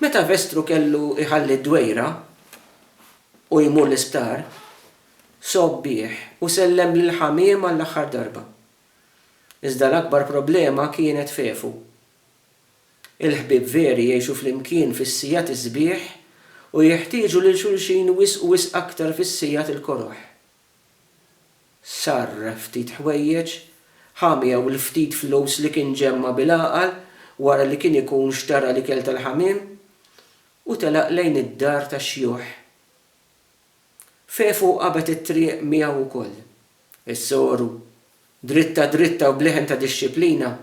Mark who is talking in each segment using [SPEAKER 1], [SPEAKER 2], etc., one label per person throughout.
[SPEAKER 1] Meta Vestru kellu jħalli d-dwejra u jmur l-isptar, sogħob bih u sellem lill-ħamiem għall-aħħar darba. Iżda l-akbar problema kienet f'Efu. Il-ħbieb veri jgħixu flimkien fis-sigħat is-sbieħ u jeħtieġu lil xulxin wisq u wisq aktar fis-sigħat il-koroh. Sar ftit ħwejjeġ, ħa miegħu l-ftit flus li kien ġemma' bil-għaqal wara li kien ikun xtara l-ikel tal-ħamiem, u telaq lejn id-dar tax-xjuħ. Fefu qabet it-triq miegħu wkoll. Is-soru, dritta dritta u b'leħen ta' dixxiplina,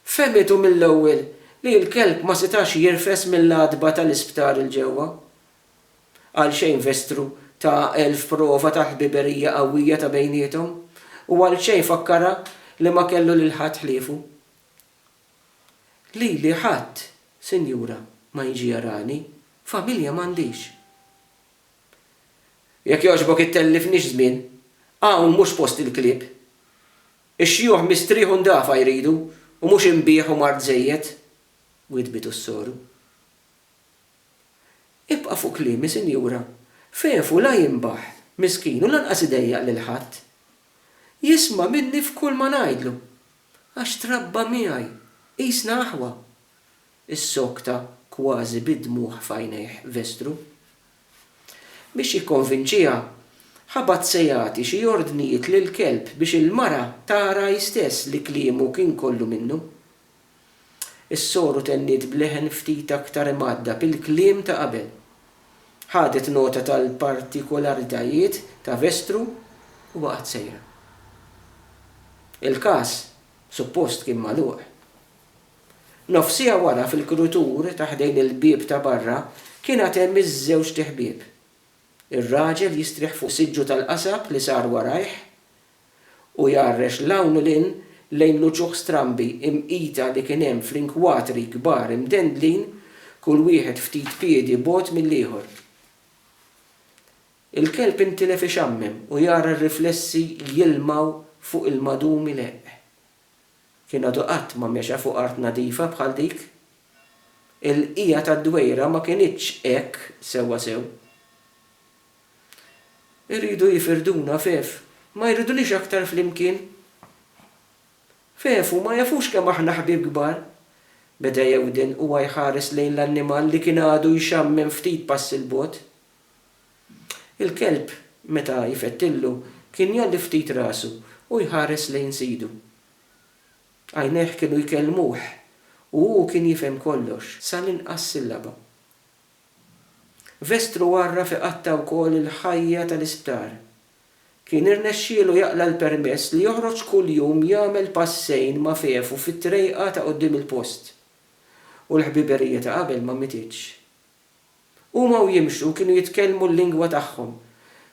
[SPEAKER 1] fehmitu mill-ewwel li l-kelb ma setax jirfes mill-għatba tal-isptar 'il ġewwa, Għalxejn Vestru ta Elf prova ta' ħbiberija qawwija ta' bejniethom, u għalxejn fakkarha li ma kellu lil ħadd ħliefu. Lili ħadd, sinjura, ma jiġi jarani, familja m'għandix. Jekk jogħġbok ittellifnix żmien, hawn mhux post il-klieb. Ix-xjuħ mistrieħ u ndafa jridu, u mhux inbigħ u mard żejjed, widdbitu s-soru. Ibqa' fuq kliemi, sinjura. Fefu la jinbaħ, miskin, u lanqas idejjaq lil ħadd. Jisma' minni f'kulma ngħidlu. Għax trabba miegħi. Qisna aħwa. Issokta kważi bid-dmugħ f'għajnejh Vestru. Biex jikkonvinċiha, ħabat se jagħti xi ordnijiet lill-kelb biex il-mara tara hi stess li kliemu kien kollu minnu. Is-soru tenniet b'leħen ftit aktar imgħaddab il-kliem ta' qabel. Ħadet nota tal-partikolaritajiet ta' Vestru u baqgħet sejra. Il-każ, suppost, kien magħluq. Nofsiegħa wara, fil-krutur ta' ħdejn il-bieb ta' barra, kien għad hemm iż-żewġt iħbieb. Ir-raġel jistrieħ fuq siġġu tal-qasab li sar warajh, u jgħarrex 'l hawn u 'l hinn lejn l-uċuħ strambi imqita li kien hemm fl-inkwatri kbar imdendlin kull wieħed ftit piedi bogħod mill-ieħor. Il-kelb intilef ixammem u jara r-riflessi jilmgħu fuq il-madum ileqq. Kien għadu qatt ma mexa fuq art nadifa bħal dik. Il-bqija tad-dwejra ma kinitx hekk sewwasew. Iridu jifirduna f'Ev. Ma jridunix aktar flimkien? F'Ev u ma jafux kemm aħna ħbieb kbar. Beda jewden huwa jħares lejn l-annimal li kien għadu jxammem ftit passi 'l bogħod. Il-kelb, meta jfettillu, kien jgħolli ftit rasu u jħares lejn sidu. Għajnejh kienu jkellmuh u hu kien jifhem kollox, sa l-inqas sillaba. Vestru għarraf iqatta' wkoll il-ħajja tal-isptar. Kien irnexxielu jaqla' l-permess li joħroġ kull jum jagħmel passejn ma' Fefu fit-trejqa ta' quddiem il-post. U l-ħbiberija ta' qabel ma mietitx. Huma u jimxu kienu jitkellmu l-lingwa tagħhom,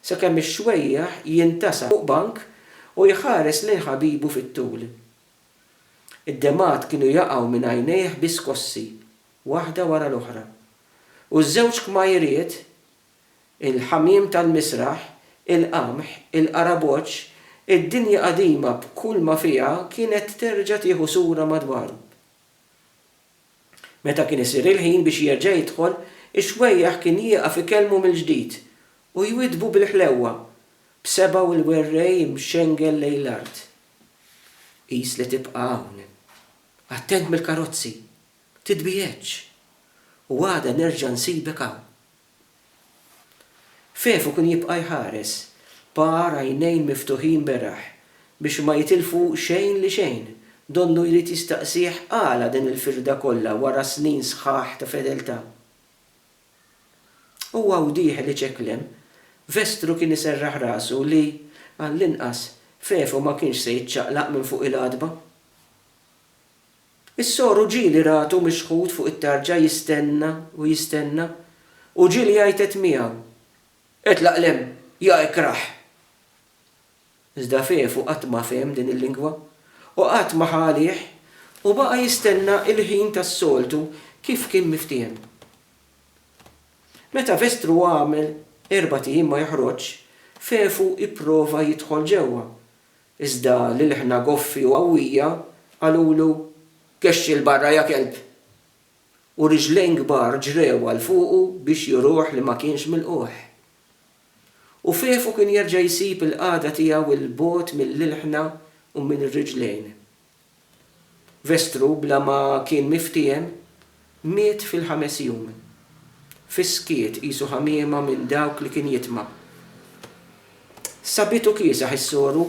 [SPEAKER 1] sakemm ix-xwejjaħ jintasab fuq bank u jħares lejn ħabibu fit-tul. Id-demgħat kienu jaqgħu minn għajnejh bi skossi. waħda wara l-oħra, u ż-żewġ kmajriet, il-ħamiem tal-misraħ, il-qamħ, il-qaraboċċ, id-dinja qadima b'kull ma fiha kienet terġa' tieħu sura madwaru. Meta kien isir il-ħin biex jerġa' jidħol, ix-xwejjaħ kien jieqaf ikellmu mill-ġdid u jwiddbu bil-ħlewwa, b'sebgħu l-werrej imxengel lejn l-art. Qis li tibqa' hawn. Attent mill-karozzi! Titbiegħedx, u għada nerġa' nsibek hawn. Fefu kien jibqa' jħares b'għar għajnejn miftuħin beraħ biex ma jitilfu xejn li xejn, donnu jrid jistaqsih għala din il-firda kollha wara snin sħaħ ta' fedeltà. Huwa u dieħel iċekklem, Vestru kien iserraħ rasu li, għallinqas, Fefu ma kienx se jiċċaqlaq minn fuq il-għatba. Is-sor u ġieli ratu mixħut fuq it-tarġa jistenna u jistenna, u ġieli jgħajtet miegħu, Itlaq 'l hemm, ja ikrah! Iżda Fefu qatt ma fehem din il-lingwa, u qatt ma ħa għalih, u baqa' jistenna il-ħin tas-soltu kif kien miftiehem. Meta Vestru għamel erbat ijiem ma joħroġx, Fefu ipprova jidħol ġewwa, Iżda l-ilħna goffi u qawwija qalulu, Kexxi 'l barra ja kelb! U riġlejn kbar ġrew għal fuqu biex juruh li ma kienx milqugħ. U fefu kien jerġa' jsib il-qagħda tiegħu 'l bogħod mill-ilħna u minn riġlejn. Vestru bla ma kien miftiehem miet fil-ħames jum. Fis-skiet qisu ħamiema minn dawk li kien jitma'. Sabitu kiesaħ is-soru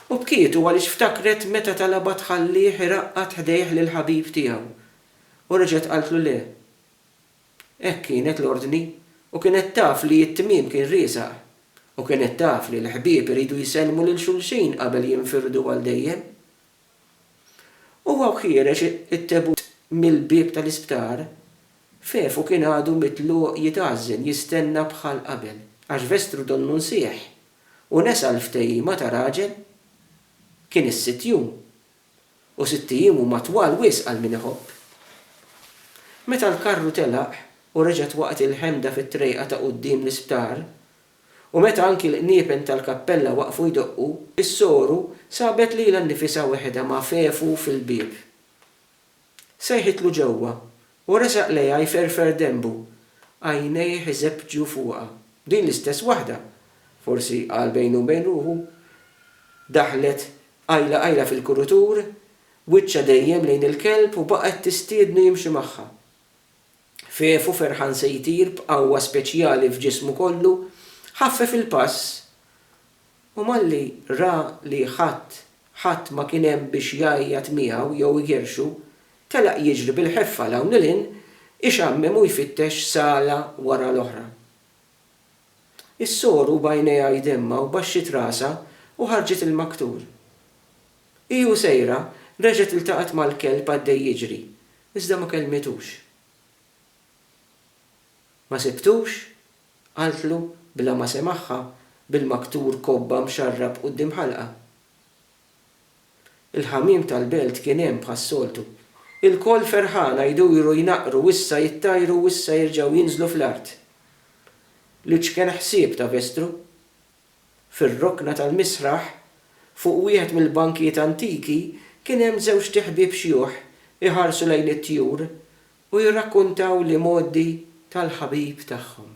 [SPEAKER 1] u bkietu għaliex ftakret meta talabha tħallih iraqqad ħdejh lill-ħabib tiegħu u reġgħet qaltlu le. Hekk kienet l-ordni, u kienet taf li t-tmiem kien riesaq. U kienet taf li l-ħbieb iridu jsellmu lil xulxin qabel jinfirdu għal dejjem. Huwa u ħiereġ it-tebut mill-bieb tal-isptar, Fefu kien għadu mitluq jitgħażżen, jistenna bħal qabel, għax Vestru donnu nsieħ u nesa l-ftehima ta' raġel. Kien is-sitt jum, U sitt ijiem huma twal wisq għal min iħobb. Meta l-karru telaq u reġgħet waqgħet il-ħemda fit-trejqa ta' quddiem l-isptar, u meta anki l-qniepen tal-kappella waqfu jdoqqu, is-soru sabet lilha nnifisha weħedha ma' fefu fil-bieb. Sejħitlu ġewwa, u resaq lejha jferfer denbu, għajnejh iżeppġu fuqha. Din l-istess waħda, forsi qal bejnu bejn ruħu, daħlet qajla qajla fil-kurutur, wiċċha dejjem lejn il-kelb u baqgħet tistiednu jimxi magħha. Fefu ferħan se jtir b'qawwa speċjali f'ġismu kollu, ħaffef il-pass. U malli ra li ħadd, ħadd ma kien hemm biex jgħajjat miegħu jew igerrxu, telaq jiġri bil-ħeffa 'l hawn 'il hinn, ixammem u jfittex sala wara l-oħra. Is-sor u b'għajnejha jdemmha u baxxiet rasha u ħarġet il-maktur. Hi u sejra, reġgħet iltaqgħet mal-kelb għaddej jiġri, iżda ma kellmitux. Ma sibtux Qaltlu, bla ma semagħha, bil-maktur kobba mxarrab quddiem ħalqha. Il-ħamiem tal-belt kien hemm bħas-soltu. Ilkoll ferħana jduru jnaqqru u issa jittajru u issa jerġgħu jinżlu fl-art. L-iċken ħsieb ta' Vestru. Fir-rokna tal-misraħ, fuq wieħed mill-bankijiet antiki, kien hemm żewġt iħbieb xjuħ iħarsu lejn it-tjur u jirrakkuntaw l-imgħoddi tal-ħabib tagħhom.